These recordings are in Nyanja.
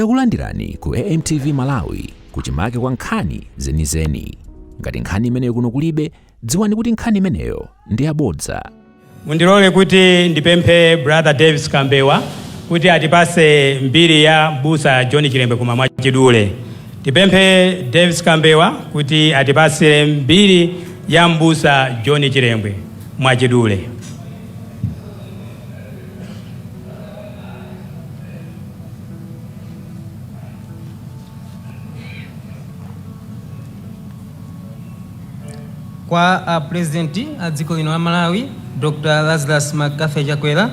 Takulandirani ku AMTV Malawi kuchimake kwa nkhani zenizeni. Ngati nkhani imeneyo kuno kulibe, dziwani kuti nkhani imeneyo ndi yabodza. Mundilole kuti ndipemphe Brother Davis Kambewa kuti atipase mbiri ya Mbusa John Chilembwe koma mwachidule. Ndipemphe Davis Kambewa kuti atipase mbiri ya Mbusa John Chilembwe mwachidule. kwa a president a dziko lino la malawi dr lazarus mccarthy chakwera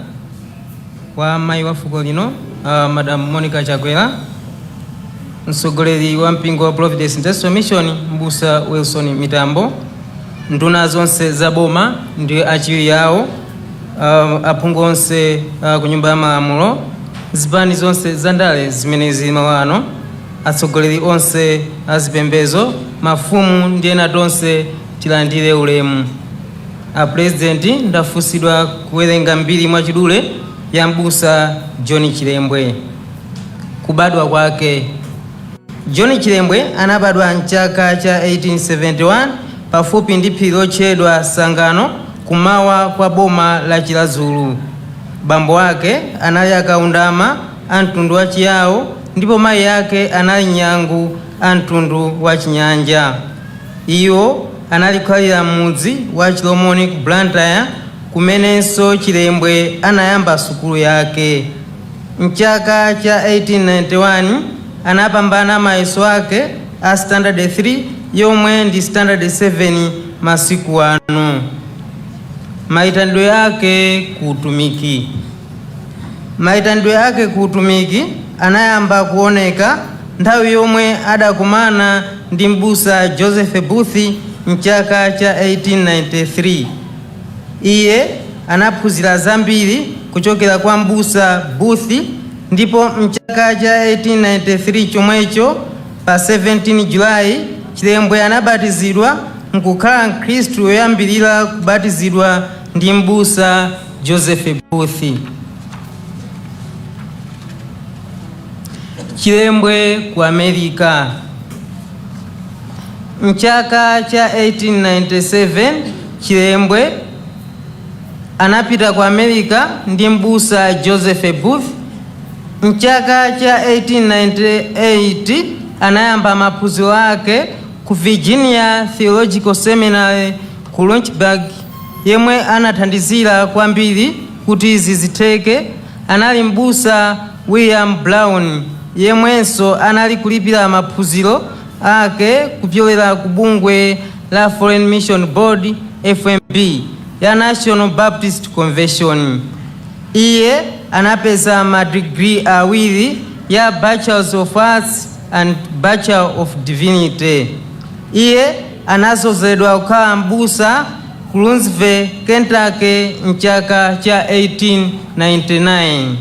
kwa mayi wa fuko lino uh, madam monica chakwera mtsogoleri wa mpingo wa providence Industrial Mission mbusa wilson mitambo nduna zonse za boma ndi achiwiri awo uh, aphungu onse uh, ku nyumba ya malamulo zipani zonse za ndale zimene zili malo ano atsogoleri onse a zipembezo mafumu ndi ena tonse tilandire ulemu a purezidenti ndafunsidwa kuwerenga mbiri mwachidule ya mbusa john chilembwe kubadwa kwake john chilembwe anabadwa mchaka cha 1871 pafupi ndi phiri lotchedwa Sangano kummawa kwa boma la Chiradzulu. Bambo ake anali a Kaundama a mtundu wa Chiyao ndipo mayi ake anali Nyangu a mtundu wa Chinyanja. Iwo anali kukhalira m'mudzi wa Chilomoni ku Blantyre kumenenso Chilembwe anayamba sukulu yake. M'chaka cha 1891 anapambana mayeso ake a standard 3 yomwe ndi standard 7 masiku ano maitanidwe yake ku utumiki maitanidwe yake ku utumiki anayamba kuoneka nthawi yomwe adakumana ndi mbusa joseph booth mchaka cha 1893 Iye anaphunzira zambiri kuchokera kwa Mbusa Booth ndipo m'chaka cha 1893 chomwecho, pa 17 July, Chilembwe anabatizidwa n'kukhala Mkhristu woyambirira kubatizidwa ndi Mbusa Joseph Booth. Chilembwe ku America. M'chaka cha 1897, Chilembwe anapita ku America ndi m'busa Joseph Booth. M'chaka cha 1898 anayamba maphunziro ake ku Virginia Theological Seminary ku Lynchburg, yemwe anathandizira kwambiri kuti izi zitheke anali M'busa William Brown yemwenso anali kulipira maphunziro ake kupyolera ku bungwe la Foreign Mission Board, FMB, ya National Baptist Convention. Iye anapeza madigiri awiri ya Bachelor of Arts and Bachelor of Divinity. Iye anazozedwa kukhala m'busa ku Louisville, Kentucky, m'chaka cha 1899.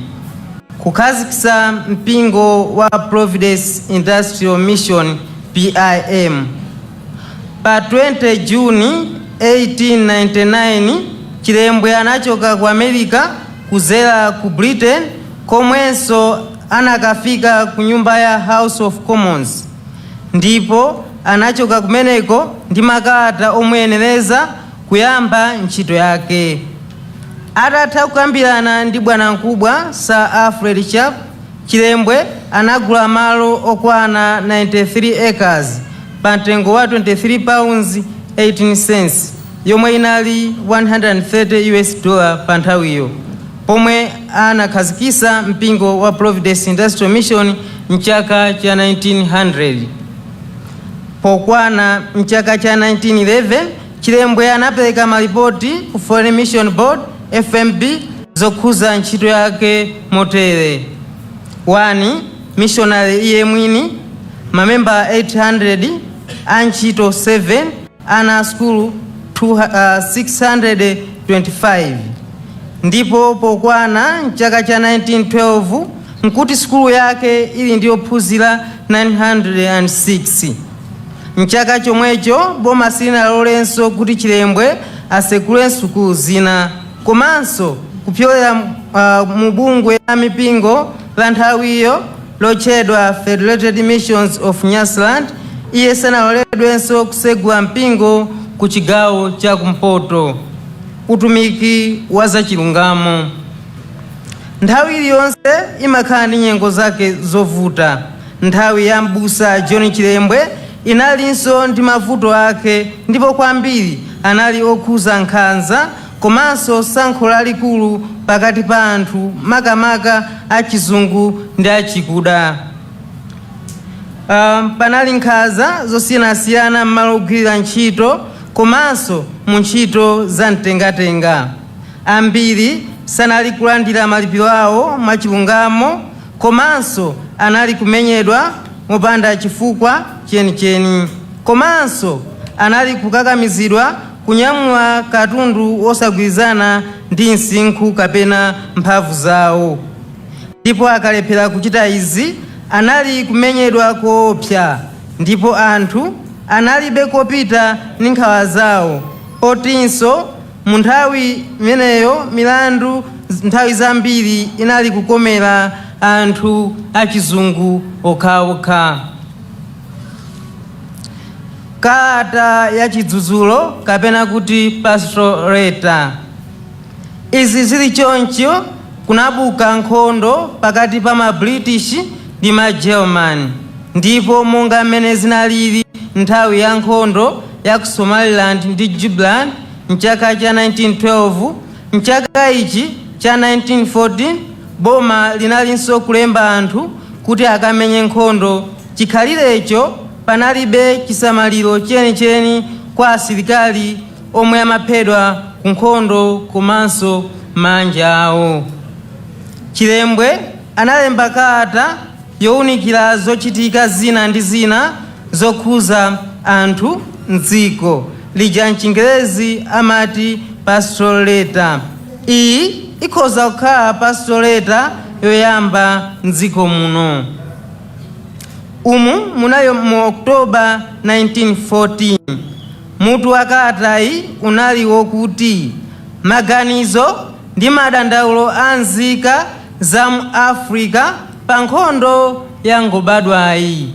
Kukhazikitsa mpingo wa Providence Industrial Mission PIM. Pa 20 June 1899 Chilembwe anachoka ku America kuzera ku Britain komwenso anakafika ku nyumba ya House of Commons ndipo anachoka kumeneko ndi makalata omuyenereza kuyamba ntchito yake. Atatha kukambirana ndi bwanamkubwa Sir Alfred Sharpe, Chilembwe anagula malo okwana 93 acres pa mtengo wa 23 pounds 18 cents yomwe inali 130 US dollar pa nthawiyo. pomwe anakhazikisa mpingo wa Providence Industrial Mission mchaka cha 1900. Pokwana mchaka cha 1911, Chilembwe anapereka malipoti ku Foreign Mission Board, FMB, zokhuza ntchito yake motere. 1. Missionary iye mwini, mamemba 800, antchito 7, ana a sukulu 625 ndipo pokwana m'chaka cha 1912 nkuti sukulu yake ili ndi ophunzira 906 m'chaka chomwecho boma silinalolenso kuti chilembwe asekule sukulu zina komanso kupyolera uh, mu bungwe la mipingo la nthawiyo lotchedwa Federated Missions of Nyasaland, iye sanaloledwenso kusegula mpingo ku chigawo cha kumpoto. Utumiki wa zachilungamo nthawi iliyonse imakhala ndi nyengo zake zovuta. Nthawi ya m'busa John Chilembwe inalinso ndi mavuto ake ndipo kwambiri anali okhuza nkhanza komanso sankho lalikulu pakati pa anthu makamaka achizungu ndi achikuda. Um, panali nkhanza zosiyanasiyana m'malo ogwirira ntchito komanso mu ntchito za mtengatenga. Ambiri sanali kulandira malipiro awo mwachilungamo komanso anali kumenyedwa mopanda chifukwa chenicheni komanso anali kukakamizidwa Kunyamula katundu wosagwirizana ndi msinkhu kapena mphamvu zawo, ndipo akalephera kuchita izi anali kumenyedwa koopsa ndipo anthu analibe kopita ndi nkhawa zawo potinso mu nthawi imeneyo milandu nthawi zambiri inali kukomera anthu achizungu okhaokha. Kalata ya chidzudzulo kapena kuti pastoral letter. Izi zili choncho kunabuka nkhondo pakati pa ma British ndi ma German ndipo monga mmene zinalili nthawi ya nkhondo ya ku Somaliland ndi Jubaland mchaka cha 1912, mchaka ichi cha 1914 boma linalinso kulemba anthu kuti akamenye nkhondo chikhalirecho. Panalibe chisamaliro chenicheni kwa asilikali omwe amaphedwa ku nkhondo komanso maanja awo. Chilembwe analemba kalata younikira zochitika zina ndi zina zokhuza anthu m'dziko ija m'chingerezi amati pastoral letter. Iyi ikhoza kukhala pastoral letter yoyamba m'dziko muno. umu munali mu oktoba 1914 mutu wa kalatayi unali wokuti maganizo ndi madandaulo a nzika za mu africa pa nkhondo yangobadwayi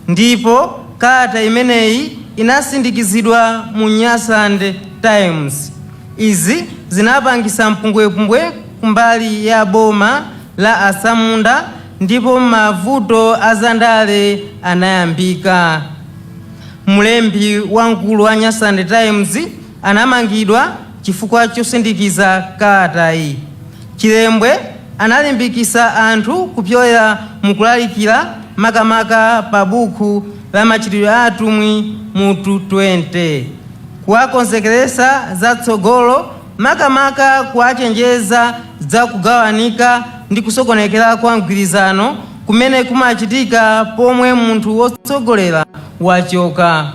ndipo kalata imeneyi inasindikizidwa mu nyasaland times izi zinapangisa mpungwepungwe kumbali ya boma la atsamunda ndipo mavuto a zandale anayambika. Mlembi wamkulu wa Nyasaland Times anamangidwa chifukwa chosindikiza kalatayi. Chilembwe analimbikitsa anthu kupyolera mu kulalikira makamaka pa buku la Machitidwe a Atumwi mutu 20, kuwakonzekeretsa za tsogolo makamaka kuwachenjeza za kugawanika ndi kusokonekera kwa mgwirizano kumene kumachitika pomwe munthu wotsogolera wachoka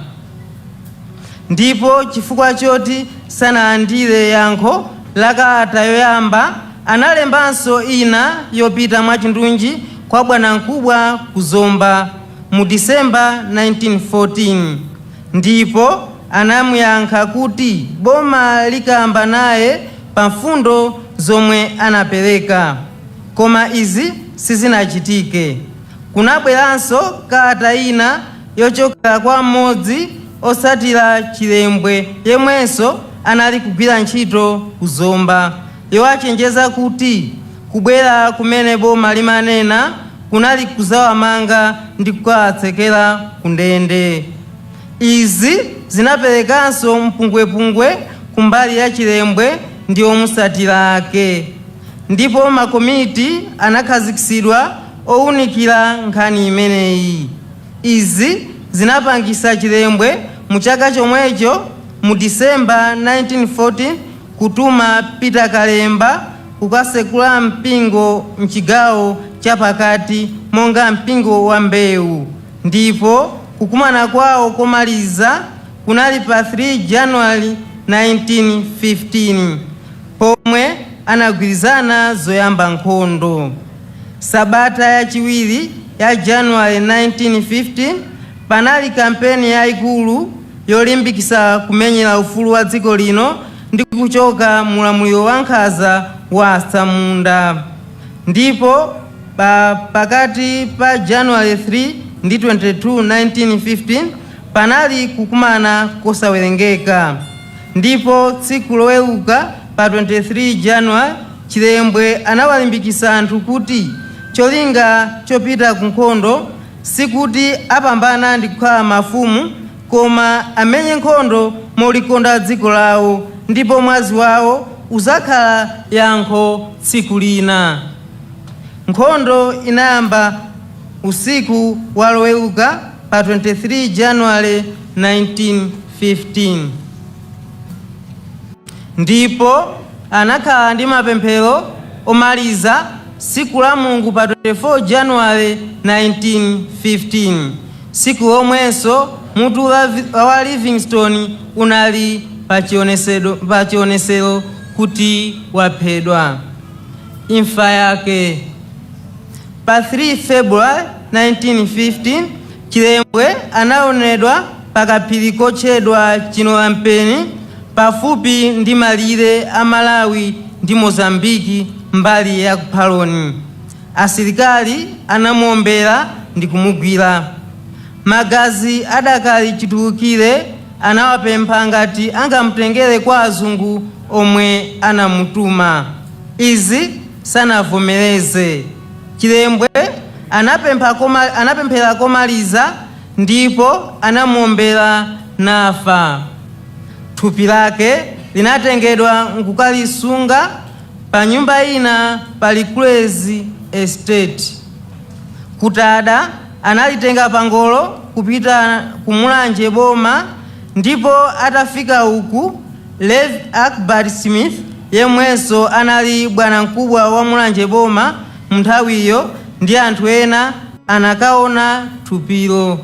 ndipo chifukwa choti sanalandire yankho la kalata yoyamba analembanso ina yopita mwachindunji kwa bwanamkubwa ku zomba mu disemba 1914 Ndipo anamuyankha kuti boma likamba naye pa mfundo zomwe anapereka koma izi sizinachitike. Kunabweranso kalata ina yochokera kwa mmodzi otsatira Chilembwe yemwenso anali kugwira ntchito ku Zomba. yowachenjeza kuti kubwera kumene boma limanena kunali kudzawamanga ndi kukawatsekera ku ndende. Izi zinaperekanso mpungwepungwe ku mbali ya Chilembwe ndi omutsatira ake ndipo makomiti anakhazikitsidwa owunikira nkhani imeneyi. Izi zinapangisa Chilembwe mu chaka chomwecho mu December 1914, Kutuma Peter Kalemba kukasekula mpingo mchigawo chapakati monga mpingo wa Mbewu ndipo kukumana kwawo komaliza kunali pa 3 January 1915 pomwe anagwirizana zoyamba nkhondo. Sabata yachiwiri ya January 1915 panali kampeni yaikulu. yolimbikitsa kumenyera ufulu wa dziko lino ndi kuchoka mu ulamuliro wankhanza wa atsamunda ndipo pakati pa January 3 ndi 22, 1915 panali kukumana kosawerengeka ndipo tsiku loweruka pa 23 January Chilembwe anawalimbikitsa anthu kuti cholinga chopita ku nkhondo Sikuti apambana ndi kukhala mafumu, koma amenye nkhondo molikonda dziko lawo, ndipo mwazi wawo udzakhala yankho tsiku lina. Nkhondo inayamba usiku wa Loweruka pa 23 January, 1915. Ndipo anakhala ndi mapemphero omaliza tsiku la Mulungu pa 24 January 1915, tsiku lomwenso mutu wa Livingstone unali pa chionetsero kuti waphedwa. Imfa yake. Pa 3 February 1915. Chilembwe anaonedwa pa kaphiri kotchedwa Chinolampeni pafupi ndi malire a Malawi ndi Mozambique mbali ya ku Phaloni. Asilikali anamuombera ndi kumugwira. Magazi adakali chitulukire anawapempha ngati angamutengere kwa azungu omwe anawatuma. Izi sanavomereze. Chilembwe anapemphera komaliza ndipo anamuombera nafa. Thupi lake linatengedwa nkukalisunga pa nyumba ina pa Likulezi Estate. Kutada analitenga pangolo kupita ku Mulanje boma ndipo atafika uku Rev Akbar Smith yemwenso anali bwanamkubwa wa Mulanje Boma munthawiyo ndi anthu ena anakaona thupilo.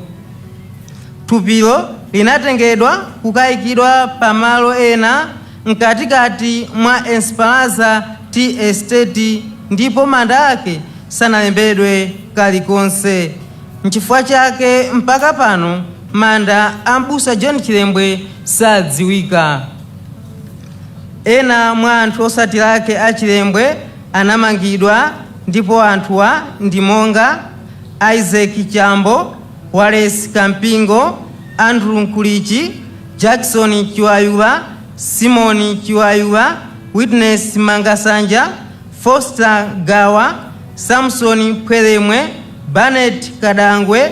Thupilo linatengedwa kukaikidwa pa malo ena mkatikati mwa Esperanza Tea Estate ndipo manda ake sanalembedwe kalikonse. Nchifukwa chake mpaka pano manda a Mbusa John Chilembwe sadziwika. Ena mwa anthu otsatira ake a Chilembwe anamangidwa ndipo anthuwa ndi monga Isaac Chambo, Wallace Kampingo, Andrew Nkulichi, Jackson Chiwayula, Simon Chiwayula, Witness Mangasanja, Foster Gawa, Samson Phwelemwe, Barnett Kadangwe,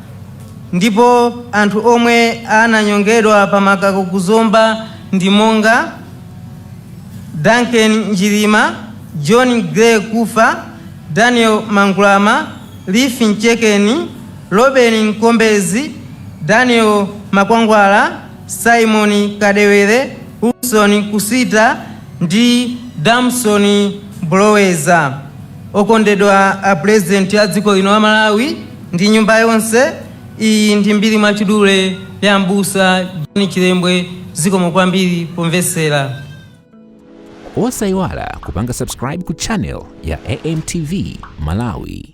Ndipo anthu omwe ananyongedwa pa makako ku Zomba ndi monga, Duncan Njilima, John Gray Kufa, Daniel Mangulama, Liff Nchekeni, Robeni Nkombezi, Daniel Makwangwala, Simon Kadewere, Wilson Kusita ndi Damson Buloweza. Okondedwa a Pulezidenti a dziko lino la Malawi, ndi nyumba yonse. Iyi ndi mbiri mwachidule ya m'busa John Chilembwe. Zikomo kwambiri pomvetsera. Osayiwala kupanga subscribe ku channel ya AMTV Malawi.